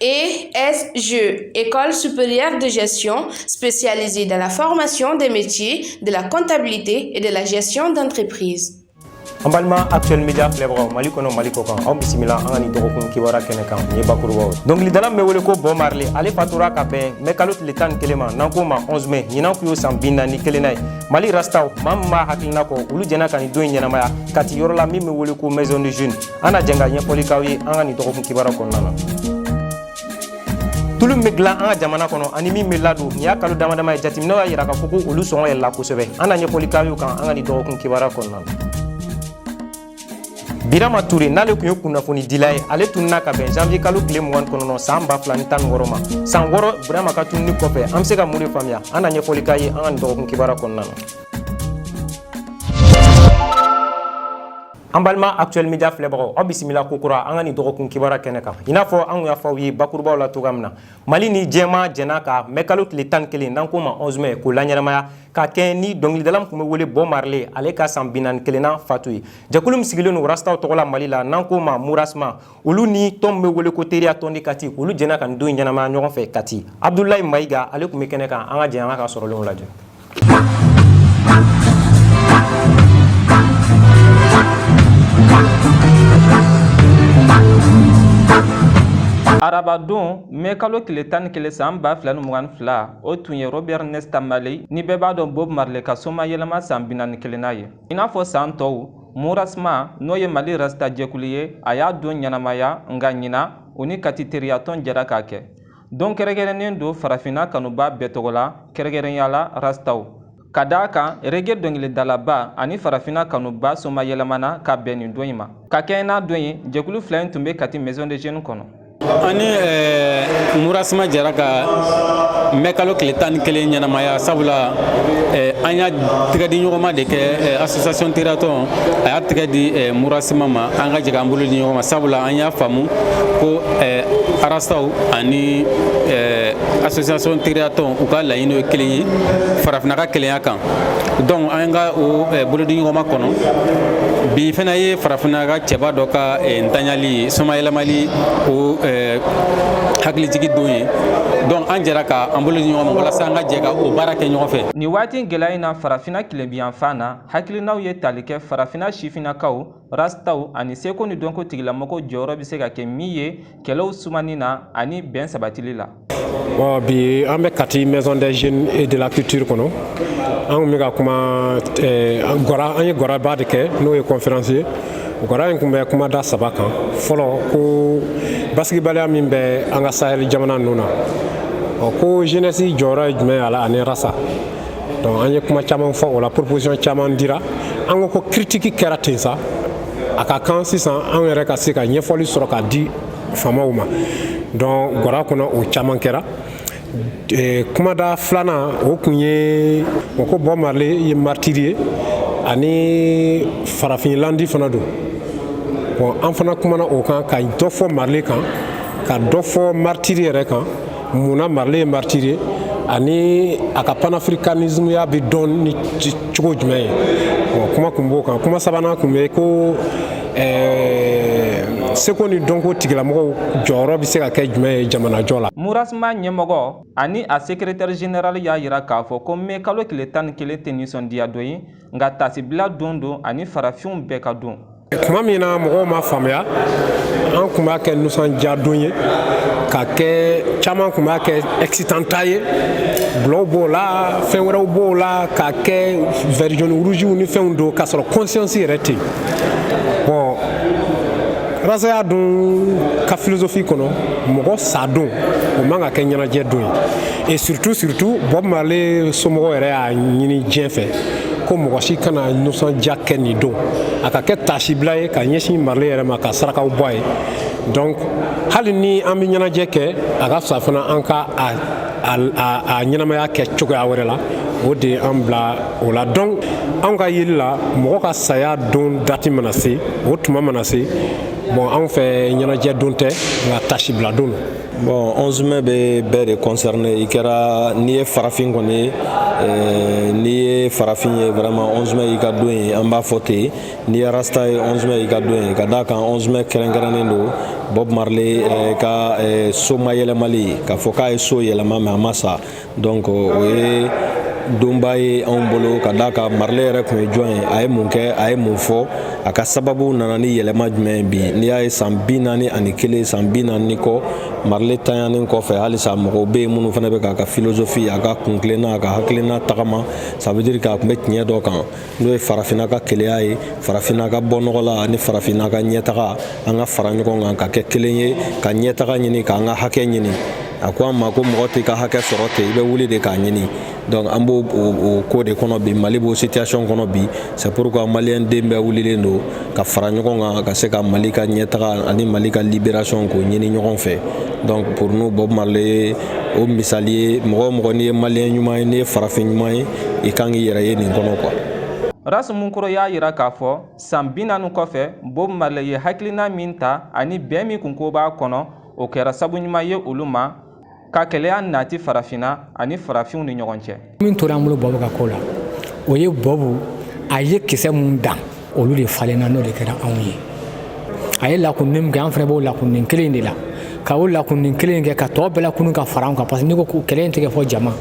ESG, École supérieure de gestion spécialisée dans la formation des métiers de la comptabilité et de la gestion d'entreprise. an balima actuel media filɛbagaw mali kɔnɔ mali kɔkan aw bisimila an ka nin dɔgɔkun kibaru kɛnɛ kan nin ye bakurubaw ye dɔnkilidala min bɛ wele ko bob marley ale fatura ka bɛn mɛ kalo tile tan ni kelen ma n'an k'o ma 11 mai ɲinan kun y'o san bi naani kelennan ye mali rastaw maa min b'a hakilina kɔ olu jɛna ka nin don ɲɛnamaya kati yɔrɔ la min bɛ wele ko maison des jeunes an na jɛn ka ɲɛfɔli k'aw ye an ka nin dɔgɔkun kibaru kɔnɔna na tulu min bɛ dilan an ka jamana kɔnɔ ani min bɛ ladon nin y'a kalo dama dama ye jateminɛw y'a jira k'a fɔ ko olu sɔngɔ yɛlɛla kosɛbɛ an na ɲɛfɔli k'aw y'o kan an ka nin dɔgɔkun kibaru kɔnɔna na birama ture n'ale tun ye kunnafonidila ye ale tununna ka bɛn janvier kalo tile mugan kɔnɔntɔn san ba fila ni tan ni wɔrɔ ma san wɔrɔ birama ka tununni kɔfɛ an bɛ se ka mun de faamuya an na ɲɛfɔli k'aw ye an ka nin dɔgɔkun kibaru kɔnɔna na an balima actuel media filɛbagaw aw bisimila ko kura an ka nin dɔgɔkun kibaru kɛnɛ kan i n'a fɔ an kun y'a fɔ aw ye bakurubaw la cogoya min na mali ni diɲɛmaa jɛna ka mɛ kalo tile tan kelen n'an k'o ma 11 mai k'o laɲɛnamaya ka kɛ ni dɔnkilidala min tun bɛ wele bob marley ale ka san binaani kelennan fatu ye jɛkulu min sigilen don rastaw tɔgɔ la mali la n'an k'o ma murasma olu ni tɔn min bɛ wele ko teriya tɔn de kati olu jɛna ka nin don ɲɛnamaya ɲɔgɔn fɛ kati abudulayi mayiga ale tun bɛ kɛnɛ kan an ka jɛ an k'a ka sɔrɔlenw lajɛ arabadon mɛ kalo tile tan ni kelen san ba fila ni mugan fila o tun ye robert nesta marley ni bɛɛ b'a dɔn bob marley ka somayɛlɛma san binaani kelennan ye i n'a fɔ san tɔw Murasma n'o ye Mali Rasta jɛkulu ye, a y'a don ɲɛnamaya, nka ɲinan, o ni Kati teriyatɔn jɛra k'a kɛ. Don kɛrɛnkɛrɛnnen don farafinna kanubaa bɛɛ tɔgɔ la, kɛrɛnkɛrɛnya la Rastaw. Ka d'a kan, reggae dɔnkilidalaba ani farafinna kanubaa somayɛlɛmana ka bɛn nin don in ma. Ka kɛɲɛ n'a don ye, jɛkulu fila in tun bɛ Kati Maison des Jeunes kɔnɔ. an ni eh, murasma jɛra ka mɛ kalo tile tan ni kelen ɲɛnamaya sabula eh, an y'a tɛgɛ di ɲɔgɔnma de kɛ eh, association teriyatɔn a y'a tɛgɛ di murasma ma an ka jɛ k'an bolo di ɲɔgɔn ma sabula an y'a faamu ko rastaw ani association teriyatɔn u ka laɲini ye kelen ye farafinna ka kelenya kan donc an ka o bolodi ɲɔgɔnma kɔnɔ bi fana ye farafinna ka cɛba dɔ ka ntanyali ye Somayɛlɛmali o eh, hakilijigi don ye donc an jɛra ka an bolo di ɲɔgɔn ma walasa an ka jɛ ka o baara kɛ ɲɔgɔn fɛ Nin waati gɛlɛya in na farafina tilebinyanfan na hakilinaw ye tali kɛ farafina sifinnakaw rastaw ani seko ni dɔnko tigilamɔgɔw jɔyɔrɔ bɛ se ka kɛ min ye kɛlɛw sumani na ani bɛn sabatili la bi an bɛ kati maison des jeunes et de la culture kɔnɔ an tun bɛ ka kuma eh, gwara an ye gwaraba de kɛ n'o ye conférence ye gwara in tun bɛ kuma da saba kan fɔlɔ ko basigibaliya min bɛ an ka sahel jamana ninnu na ɔ ko jeunesse jɔyɔrɔ ye jumɛn y'a la ani rasta donc an ye kuma caman fɔ o la proposition caman dira an ko ko critique kɛra ten sa a ka kan sisan an yɛrɛ ka se ka ɲɛfɔli sɔrɔ ka di faamaw ma donc gwara kɔnɔ o caman kɛra eh, kumada filanan o tun ye o ko Bob Marley ye martyr ye ani farafinlandi fana don bon an fana kumana o kan ka dɔ fɔ Marley kan ka dɔ fɔ martyr yɛrɛ kan munna Marley ye martyr ye ani a ka panafricanismeya bɛ dɔn ni cogo jumɛn ye kuma tun b'o kan kuma sabanan tun bɛ ko seko ni dɔnko tigilamɔgɔw jɔyɔrɔ bɛ se ka kɛ jumɛn ye jamanajɔ la Mourasma ɲɛmɔgɔ ani a secrétaire général y'a jira k'a fɔ ko mɛ kalo tile tan ni kelen tɛ nisɔndiya don ye nka tasibila don don ani farafinw bɛɛ ka don tuma min na mɔgɔw ma faamuya an tun b'a kɛ nisɔndiyadon ye ka kɛ caman tun b'a kɛ excitant ta ye bulɔw b'o la fɛn wɛrɛw b'o la k'a kɛ vert jaune rougew ni fɛnw don k'a sɔrɔ conscience yɛrɛ tɛ yen bon rastaya dun ka philosophie kɔnɔ mɔgɔ sa don o man ka kɛ ɲɛnajɛ don ye et surtout surtout Bob Marley somɔgɔw yɛrɛ y'a ɲini diɲɛ fɛ ko mɔgɔ si kana nisɔndiya kɛ nin don a ka kɛ taasibila ye ka ɲɛsin Marley yɛrɛ ma ka sarakaw bɔ a ye donc hali ni an bɛ ɲɛnajɛ kɛ a ka fisa fana an ka a ɲɛnamaya kɛ cogoya wɛrɛ la o de ye an bila o la donc anw ka yeli la mɔgɔ ka saya don dati mana se o tuma mana se bon anw fɛ ɲɛnajɛ don tɛ nka taasibila don don Bon 11 mai bɛ bɛɛ de concerner i kɛra n'i ye farafin kɔni ye euh, n'i ye farafin ye vraiment 11 mai y'i ka don ye an b'a fɔ ten n'i ye rasta ye 11 mai y'i ka don ye ka d'a kan 11 mai kɛrɛnkɛrɛnnen don Bob Marley euh, ka euh, somayɛlɛmali k'a fɔ k'a ye so yɛlɛma mais a ma sa donc o ye donba ye anw bolo ka d'a kan Marley yɛrɛ tun ye jɔn ye a ye mun kɛ a ye mun fɔ a ka sababu nana ni yɛlɛma jumɛn ye bi n'i y'a ye san bi naani ani kelen san bi naani ni kɔ Marley tanyanen kɔfɛ halisa mɔgɔw bɛ yen minnu fana bɛ k'a ka philosophie a ka kuntilenna a ka hakilina tagama ça veut dire k'a tun bɛ tiɲɛ dɔ kan n'o ye farafinna ka kelenya ye farafinna ka bɔ nɔgɔ la ani farafinna ka ɲɛtaga an ka fara ɲɔgɔn kan ka kɛ kelen ye ka ɲɛtaga ɲini k'an ka hakɛ ɲini a ko an ma ko mɔgɔ t'i ka hakɛ sɔrɔ ten i bɛ wuli de k'a ɲini donc an b'o o ko de kɔnɔ bi mali b'o situation kɔnɔ bi c'est pourquoi maliyɛn den bɛɛ wulilen don ka fara ɲɔgɔn kan ka se ka mali ka ɲɛtaga ani mali ka liberation k'o ɲini ɲɔgɔn fɛ donc pour nous bob marley ye o misali ye mɔgɔ o mɔgɔ n'i ye maliyɛn ɲuman ye n'i ye farafin ɲuman ye i kan k'i yɛrɛ ye nin kɔnɔ quoi Ras Munkoro y'a yira k'a fɔ san bi naani kɔfɛ Bob Marley ye hakilina min ta ani bɛn min kunko b'a kɔnɔ o kɛra sabu ɲuman ye olu ma ka kelenya nati farafinna ani farafinw ni ɲɔgɔn cɛ. Min tora an bolo Bob ka ko la o ye Bob a ye kisɛ mun dan olu de falenna n'o de kɛra anw ye a ye lakunni min kɛ an fana b'o lakunni kelen de la ka o lakunni kelen kɛ ka tɔ bɛɛ lakunun ka fara an kan parce que n'i ko ko kɛlɛ in tɛ kɛ fo jama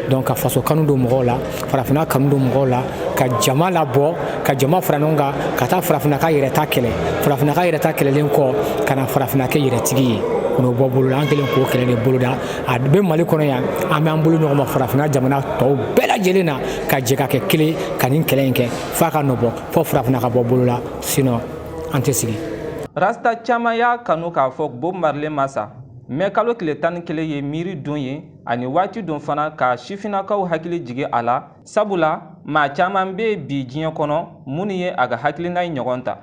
donc ka faso kanu don mɔgɔw la farafinna kanu don mɔgɔw la ka jama labɔ ka jama fara ɲɔgɔn kan ka taa farafinna ka yɛrɛta kɛlɛ farafinna ka yɛrɛta kɛlɛlen kɔ ka na farafinna kɛ yɛrɛtigi ye n'o bɔ bolo la an kɛlen k'o kɛlɛ de boloda a bɛ mali kɔnɔ yan an bɛ an bolo ɲɔgɔn ma farafinna jamana tɔw bɛɛ lajɛlen na ka jɛ ka kɛ kelen ka nin kɛlɛ in kɛ f'a ka nɔbɔ fo farafinna ka bɔ bolo la sinon an tɛ sigi rasta caman y'a kanu k'a fɔ bob marley ma sa mɛ kalo tile tan ni kelen ye miiri don ye ani waati don fana ka sifinnakaw hakili jigi a la sabula maa caman bɛ bi diɲɛ kɔnɔ minnu ye a ka hakilina in ɲɔgɔn ta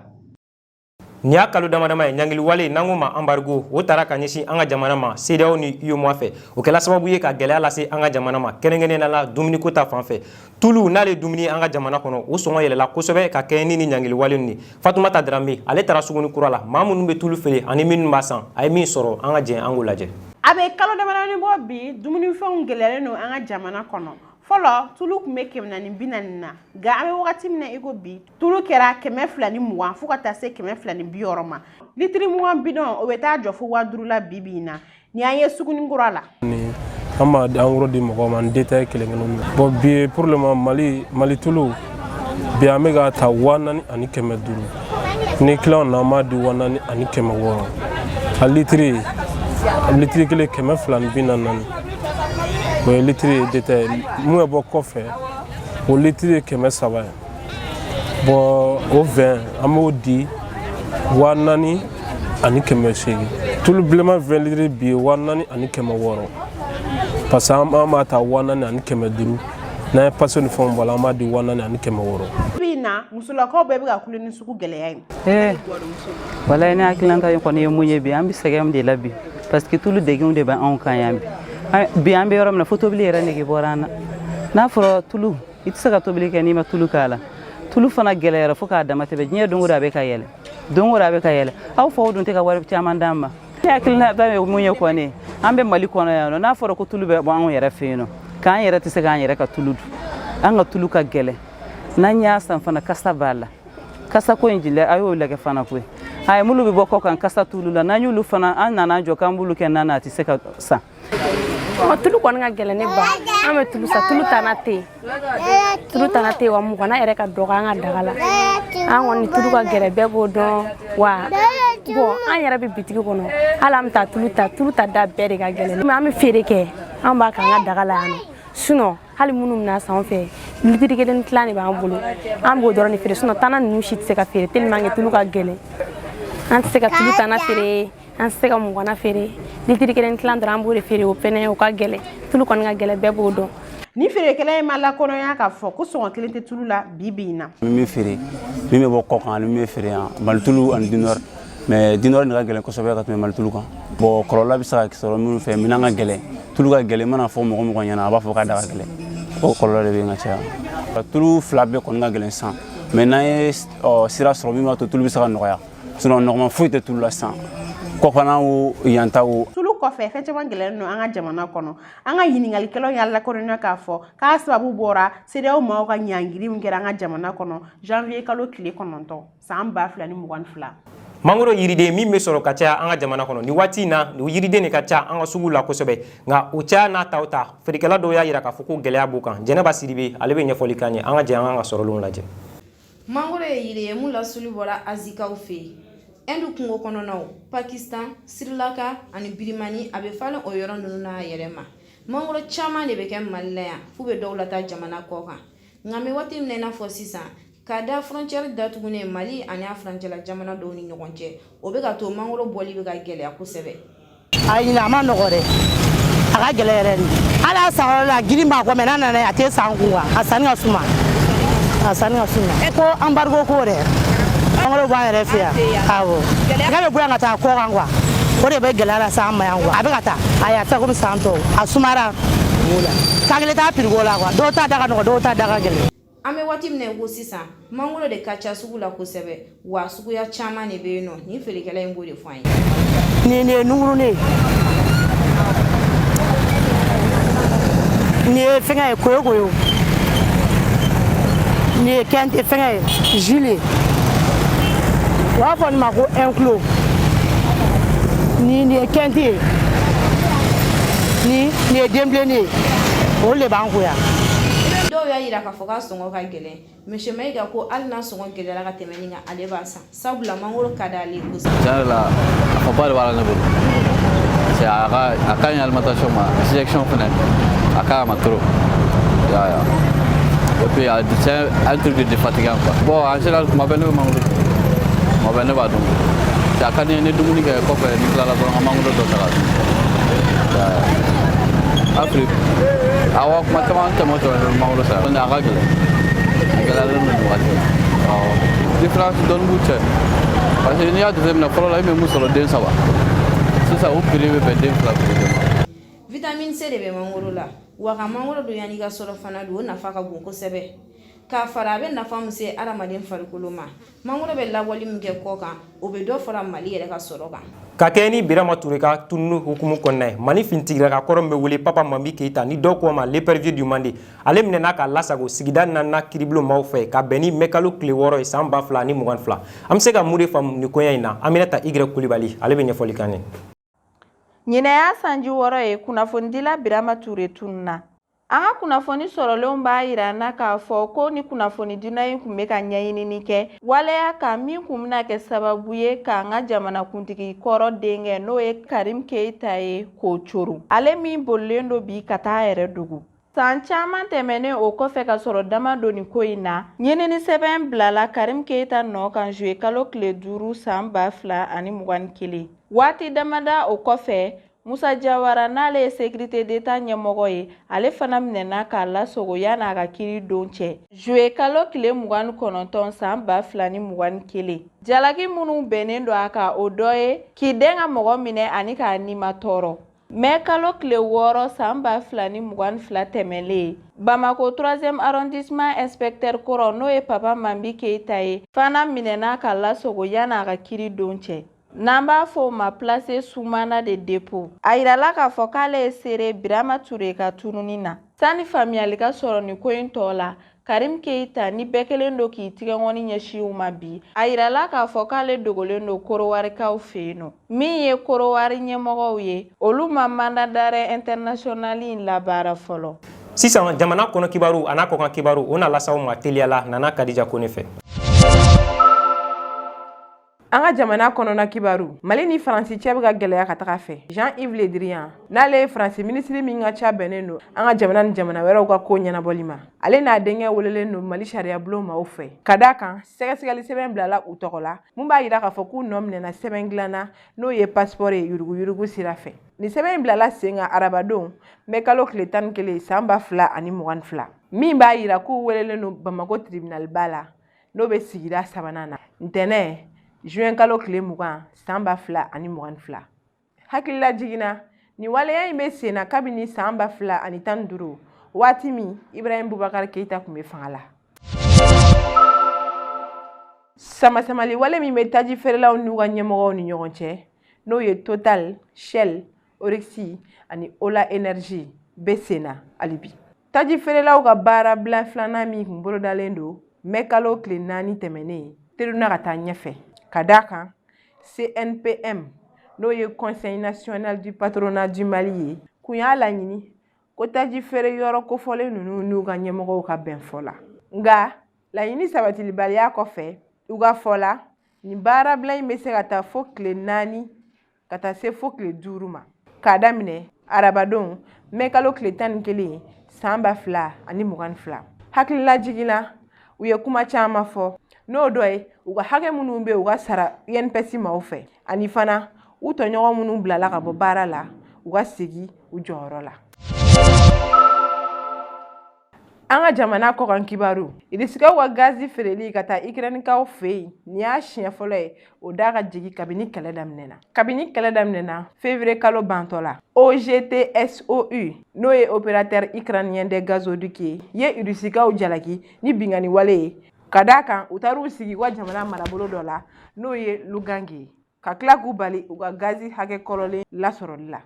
nin y'a kalo damadama ye ɲangiliwale n'an k'o ma anbarigo o tara ka ɲɛsin an ka jamana ma sedeyaw ni uemoa fɛ o kɛla sababu ye ka gɛlɛya lase an ka jamana ma kɛrɛnkɛrɛnnenya la dumuniko ta fan fɛ tulu n'ale dumuni an ka jamana kɔnɔ o sɔngɔ yɛlɛla kosɛbɛ ka kɛɲɛ ni nin ɲangiliwale nin fatumata darame ale taara suguni kura la maa minnu bɛ tulu feere ani minnu b'a san a ye min sɔrɔ an ka jɛn an k'o lajɛ a bɛ kalo damadamani bɔ bi dumunifɛnw gɛlɛyalen don an ka jamana kɔnɔ fɔlɔ tulu tun bɛ kɛmɛ ani bi naani na nka an bɛ wagati min na i ko bi tulu kɛra kɛmɛ fila ni mugan fo ka taa se kɛmɛ fila ni bi wɔɔrɔ ma litiri mugan bidɔn o bɛ taa jɔ fo waa duuru la bi bi in na ni an ye suguni kura la an b'a di angoro di mɔgɔw ma ni detaye kelen kelen na bon bi ye pour le moment mali mali tulu bi an bɛ k'a ta waa naani ani kɛmɛ duuru ni client na an b'a di waa naani ani kɛmɛ wɔɔrɔ a litiri litiri kelen kɛmɛ fila ni bi naani naani o ye litiri ye detaye mun bɛ bɔ kɔfɛ o litiri ye kɛmɛ saba ye bon o vingt an b'o di waa naani ani kɛmɛ seegin tulu bilenman vingt litiri bi ye waa naani ani kɛmɛ wɔɔrɔ parce que an b'a ta waa naani ani kɛmɛ duuru n'an ye pase ni fɛnw bɔ a la an b'a di waa naani ani kɛmɛ wɔɔrɔ bi in na musolakaw bɛɛ bɛ ka kule ni sugu gɛlɛya ye ee walayi ne hakililata ye kɔni ye mun ye bi an bɛ sɛgɛn de la bi parce que tulu degun de bɛ anw kan yan bi bi an bɛ yɔrɔ min na fo tobili yɛrɛ nege bɔra an na n'a fɔra tulu i tɛ se ka tobili kɛ n'i ma tulu k'a la tulu fana gɛlɛyara fo k'a dama tɛmɛ diɲɛ don o don a bɛ ka yɛlɛ don o don a bɛ ka yɛlɛ aw faw dun tɛ ka wari caman d'an ma ne hakilina ba ye mun ye kɔni an bɛ mali kɔnɔ yan nɔ n'a fɔra ko tulu bɛ bɔ anw yɛrɛ fɛ yen nɔ k'an yɛrɛ tɛ se k'an yɛrɛ ka tulu dun an ka tulu ka gɛlɛ n'an y'a san fana kasa b'a la kasa ko in jilɛ a y'o lagɛ fana koyi a ye minnu bɛ bɔ kɔ kan kasa t'olu la n'an y'olu fana an nana jɔ k'an b'olu kɛ nan na a tɛ se ka san ɔ tulu kɔni ka gɛlɛn ne ba an bɛ tulu san tulu tana tɛ yen tulu tana tɛ yen wa mugana yɛrɛ ka dɔgɔ an ka daga la an kɔni tulu ka gɛlɛn bɛɛ b'o dɔn wa bɔn an yɛrɛ bɛ bitigi kɔnɔ hali an bɛ taa tulu ta tulu ta da bɛɛ de ka gɛlɛn mɛ an bɛ feere kɛ an b'a k'an ka daga la yan nɔ sinɔn hali minnu bɛna san an fɛ litiri kelen tilan de b'an bolo an b'o dɔrɔn de feere sinɔn tana ninnu si tɛ se ka feere tellement que tulu ka gɛlɛn an tɛ se ka tulu tana feere an tɛ se ka mugana feere litiri kelen tilan dɔrɔn an b'o de feere o fɛnɛ o ka gɛlɛn tulu kɔni ka gɛlɛn bɛɛ b'o dɔn nin feerekɛla in b'a lakodɔnya k'a fɔ ko sɔngɔ kelen tɛ tulu la bi bi in na min bɛ feere min bɛ bɔ kɔ kan ani min bɛ feere yan malitulu ani dinɔri mɛ dinɔri de ka gɛlɛn kosɛbɛ ka tɛmɛ malitulu kan bɔn kɔlɔlɔ bɛ se ka sɔrɔ minnu fɛ minɛn ka gɛlɛn tulu ka gɛlɛn mana fɔ mɔgɔ o mɔgɔ ɲɛna a b'a fɔ k'a da ka gɛlɛn o kɔlɔlɔ de bɛ yen ka caya tulu fila bɛɛ kɔni ka gɛlɛn sisan mɛ n'an ye sira sɔrɔ min b'a to tulu bɛ se ka nɔgɔya sinon nɔgɔman foyi tɛ tulu la sisan kɔfana o yan ta o tulu kɔfɛ fɛn caman gɛlɛyalen don an ka jamana kɔnɔ an ka ɲininkalikɛlaw y'a lakodɔnya k'a fɔ k'a sababu bɔra sedeyaw maaw ka ɲangiri min kɛra an ka jamana kɔnɔ janvier kalo tile kɔnɔntɔn san ba fila ni mugan ni fila mangoro yiriden min bɛ sɔrɔ ka caya an ka jamana kɔnɔ nin waati in na o yiriden de ka ca an ka sugu la kosɛbɛ nka o caya n'a ta o ta feerekɛla dɔw y'a jira k'a fɔ ko gɛlɛya b'u kan jɛnɛba sidibe ale bɛ ɲɛfɔli k'an ye an ka jɛ an k'a ka sɔrɔlenw lajɛ mangoro ye yiri ye mun lasuli bɔra azikaw fɛ yen ɛndu kungo kɔnɔnaw pakistan sirilanka ani birimani a bɛ falen o yɔrɔ ninnu n'a yɛrɛ ma mangoro caman de bɛ kɛ mali la yan f'u bɛ dɔw lataa jamana kɔ kan nka an bɛ waati min na i n'a fɔ sisan ka da fɔrɔncɛri datugunen mali ani a furancɛla jamana dɔw ni ɲɔgɔn cɛ o bɛ k'a to mangoro bɔli bɛ ka gɛlɛya kosɛbɛ a ɲinan a man nɔgɔ dɛ a ka gɛlɛ yɛrɛ de hali a san yɔrɔ la girin b'a kɔ mɛ n'a nana yen a tɛ san kuwa a sanni ka suma a sanni ka suma e ko anbarigo ko dɛ mangoro b'an yɛrɛ fɛ yan awɔ nk'a bɛ bɔ yan ka taa kɔ kan kuwa o de bɛ gɛlɛya lase an ma yan kuwa a bɛ ka taa ayi a tɛ komi san tɔw a sumara k'a kelen t'a piri ko la kuwa dɔw ta da ka nɔgɔ dɔw ta da ka gɛlɛn an bɛ waati min na ko sisan mangoro de ka ca sugu la kosɛbɛ wa suguya caman de bɛ yen nɔ nin feerekɛla in b'o de fɔ an ye. nin ye nunkurunin ye nin ye fɛngɛ ye koyokoyo nin ye kɛnte fɛngɛ ye jule u b'a fɔ nin ma ko ɛn kilo nin ye kɛnte ye ni nin ye denbilennin ye olu de b'an kun yan dɔw y'a yira k'a fɔ k'a sɔngɔ ka gɛlɛn Monsieur Mayiga ko hali n'a sɔngɔ gɛlɛyara ka tɛmɛ nin kan ale b'a san sabula mangoro ka d'ale ye kosɛbɛ tiɲɛ yɛrɛ la nafaba de b'a la ne bolo parce que a ka a ka ɲi alimentation ma digestion fɛnɛ a ka ɲi a ma trop ya ya et puis a c'est un truc de défatigant quoi bon en général kuma bɛɛ ne bɛ mangoro kuma bɛɛ ne b'a dun a ka di n ye ni dumuni kɛ kɔfɛ n'i tilala dɔrɔn ka mangoro dɔ ta Afrique awɔ kuma caman tɛmɛ tɛmɛ ni mangoro san a ka gɛlɛn a gɛlɛyalen don nin wagati la différence dɔɔni b'u cɛ parce que n'i y'a jateminɛ fɔlɔ la i bɛ min sɔrɔ den saba sisan o prix bɛ bɛn den fila prix de ma. vitamine c de bɛ mangoro la wa ka mangoro dun yanni i ka surɔfana dun o nafa ka bon kosɛbɛ k'a fara a bɛ nafa min se adamaden farikolo ma mangoro bɛ labɔli min kɛ kɔkan o bɛ dɔ fara mali yɛrɛ ka sɔrɔ kan ka kɛɲɛ ni birama ture ka tununi hukumu kɔnɔna ye mali finitigiraka kɔrɔ min bɛ wele papa mambi keita ni dɔw ko a ma l'épervier du Mandé ale minɛna k'a lasago sigida naaninan kiribulon maaw fɛ ka bɛn ni mɛkalo tile wɔɔrɔ ye san ba fila ni mugan fila an bɛ se ka mun de faamu nin koɲɛ in na aminata igre kulibali ale bɛ ɲɛfɔli k'an ye Ɲinan y'a sanji wɔɔrɔ ye kunnafonidila Birama Ture tununna. An ka kunnafoni sɔrɔlenw b'a yira an na k'a fɔ ko nin kunnafonidila in tun bɛ ka ɲɛɲinini kɛ waleya kan min tun bɛna kɛ sababu ye k'an ka jamanakuntigi kɔrɔ denkɛ n'o ye Karim Keyita ye k'o coron, ale min bolilen don bi ka taa a yɛrɛ dogo. San caman tɛmɛnen o kɔfɛ ka sɔrɔ da ma don nin ko in na ɲinini sɛbɛn bilala karim keyita nɔ kan zuye kalo tile duuru san ba fila ani mugan ni kelen waati damada o kɔfɛ musa jawara n'ale ye sekirite deta ɲɛmɔgɔ ye ale fana minɛna k'a lasogo yan'a ka kiri don cɛ zuye kalo tile mugan ni kɔnɔntɔn san ba fila ni mugan ni kelen jalaki minnu bɛnnen don a kan o dɔ ye k'i dɛn ka mɔgɔ minɛ ani k'a nimatɔɔrɔ mɛ kalo tile wɔɔrɔ san ba fila ni mugan fila tɛmɛlen bamako troisième arrondissement inspecteur kɔrɔ n'o ye papa mambi keyita ye fana minɛna k'a lasogo yanni a ka kiri don cɛ n'an b'a fɔ o ma placé sous mandat de dépôt a yirala k'a fɔ k'ale ye seere birama ture ka tununi na sani faamuyali ka sɔrɔ nin ko in tɔ la Karim Keita ni bɛɛ kɛlen don k'i tigɛnkɔni ɲɛsin o ma bi, a yirala k'a fɔ k'ale dogolen don Korowarikaw fɛ yen nɔ. Min ye Korowari ɲɛmɔgɔw ye, olu ma mandat d'arrêt international in labaara fɔlɔ. Sisan jamana kɔnɔ kibaru an'a kɔkan kibaru, o na las'aw ma teliya la Nana Kadija Kone fɛ. an ka jamana kɔnɔna kibaru mali ni faransi cɛ bɛ ka gɛlɛya ka taga a fɛ jean yves le drian n'ale ye faransi minisiri min ka ca bɛnnen don an ka jamana ni jamana wɛrɛw ka koo ɲɛnabɔli ma ale n'a denkɛ welelen don mali sariyabulon maaw fɛ ka d'a kan sɛgɛsɛgɛli sɛbɛn bilala u tɔgɔ la mun b'a yira k'a fɔ k'u nɔ minɛna sɛbɛn dilan na n'o ye pasipɔri ye yuruguyurugu sira fɛ nin sɛbɛn in bilala sen kan arabadon mɛ kalo tile tan ni kelen san ba fila ani mugan ni fila min b'a yira k'u welelen don bamako tribinaliba la n'o bɛ sigida sabanan na ntɛnɛn zuwɛn kalo tile mugan san ba fila ani mugan ni fila hakililajigin na nin waleya in bɛ senna kabini san ba fila ani tan ni duuru waati min ibrahim bubakari keyita kun bɛ fanga la samasamali wale min bɛ taji feerelaw n'u ka ɲɛmɔgɔw ni ɲɔgɔn cɛ n'o ye total shell oryx ani ola energy bɛ senna hali bi Taji feerelaw ka baara bila filanan min kun bolodalen don mɛ kalo tile naani tɛmɛnen teruna ka taa ɲɛfɛ ka d'a kan cnpm n'o ye conseil national du patronat du mali ye kun y'a laɲini ko taji feere yɔrɔ kofɔlen ninnu n'u ka ɲɛmɔgɔw ka bɛn fɔ la nka laɲini sabatilibaliya kɔfɛ u ka fɔ la nin baarabila in bɛ se ka taa fo tile naani ka taa se fo tile duuru ma k'a daminɛ arabadon mɛ kalo tile tan ni kelen san ba fila ani mugan ni fila hakililajigin na u ye kuma caman fɔ n'o dɔ ye u ka hakɛ minnu bɛ u ka sara inps maaw fɛ ani fana u tɔɲɔgɔn minnu bilala ka bɔ baara la u ka segin u jɔyɔrɔ la An ka jamana kɔkan kibaru Irisikaw ka gazi feereli ka taa Ikɛrɛninkaw fɛ yen, nin y'a siɲɛ fɔlɔ ye o da ka jigin kabini kɛlɛ daminɛna. Kabini kɛlɛ daminɛna fevrier kalo bantɔ la, OGTSOU n'o ye opérateur ukrainien des gazoducs ye, ye Irisikaw jalaki ni binkanni wale ye, ka d'a kan u taar'u sigi u ka jamana marabolo dɔ la n'o ye Lugansk ye. ka tila k'u bali u ka gazi hakɛ kɔrɔlen lasɔrɔli la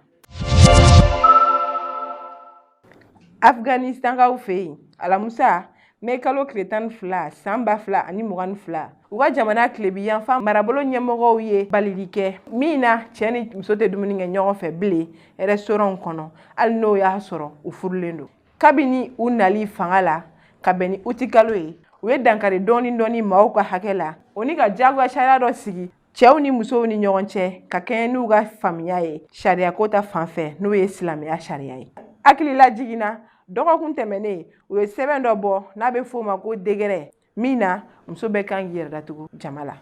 afganisitankaw fɛ yen alamusa mɛ kalo tile tan ni fila san ba fila ani mugan ni fila u ka jamana tilebin yanfan marabolo ɲɛmɔgɔw ye balili kɛ min na cɛɛ ni muso tɛ dumuni kɛ ɲɔgɔn fɛ bilen rɛstoranw kɔnɔ hali n'o y'a sɔrɔ u furulen don kabini u nali fanga la ka bɛn ni uti kalo ye u ye dankari dɔɔni dɔɔni maaw ka hakɛ la o ni ka jagoya sariya dɔ sigi cɛw ni musow ni ɲɔgɔn cɛ ka kɛɲɛ n'u ka faamuya ye sariyako ta fan fɛ n'o ye silamɛya sariya ye hakililajigin na dɔgɔkun tɛmɛnen u ye sɛbɛn dɔ bɔ n'a bɛ f'o ma ko dekɛrɛ min na muso bɛɛ kan k'i yɛrɛ datugu jama la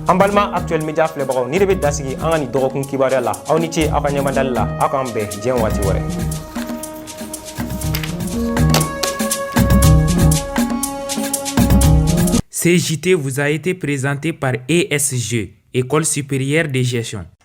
an balima actuel media filɛbagaw nin de bɛ dan sigi an ka nin dɔgɔkun kibaruya la aw ni ce aw ka ɲɛmadali la aw k'an bɛn diɲɛ waati wɛrɛ Ce JT vous a été présenté par ESG, École supérieure de gestion.